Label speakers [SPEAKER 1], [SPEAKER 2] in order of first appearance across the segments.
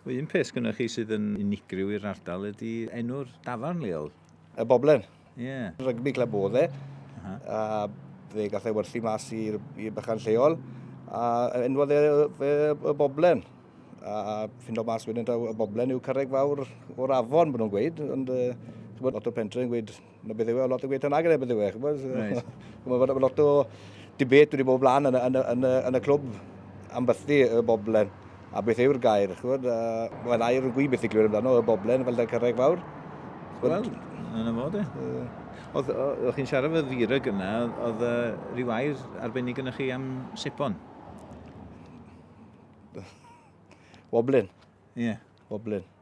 [SPEAKER 1] Un peth gyda chi sydd yn unigryw i'r ardal ydy enw'r dafarn leol. Y Boblen. Ie. Yeah. Rygbi cleb oedd e. Uh -huh. A fe gath ei werthu mas i'r bychan lleol. A enwodd e fe y Boblen. A ffyn o mas wedyn taw y Boblen yw carreg fawr o'r afon, maen nhw'n gweud. Ond uh, lot o pentre yn gweud Mae beth yw e, lot o gweithio nag yna beth yw e. Mae lot o dibet wedi bod blaen yn, yn, yn, yn y clwb am bythu y boblen a beth yw'r gair. Chwbod, uh, Mae'n air yn gwy beth i glywed amdano, y boblen fel da cyrraeg fawr. Wel, yna fod e. Oedd, oedd chi'n siarad fy ddyrag yna, oedd uh, rhyw air arbennig yna chi am sipon? Woblin. Ie. Yeah. Woblin.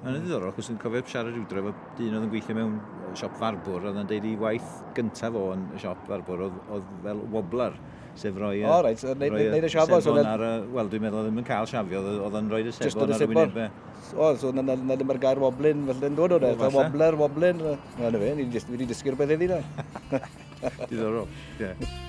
[SPEAKER 1] Mae'n ddiddorol, achos dwi'n cofio siarad rhyw dref o dyn oedd yn gweithio mewn siop farbwr, oedd yn deud i waith gyntaf o'n y siop farbwr, oedd, oedd fel wobbler, sef roi y... O, reit, so neud, roi neud y siafo. So ar y, wel, dwi'n meddwl oedd ddim yn cael siafio, oedd yn rhoi y sebon ar y wynebau. O, so na, na, na ddim ar gair woblin, felly yn dod o'n eith, wobbler, woblin, na, na fe, ni wedi dysgu'r beth eddi na. Diddorol, ie. Yeah.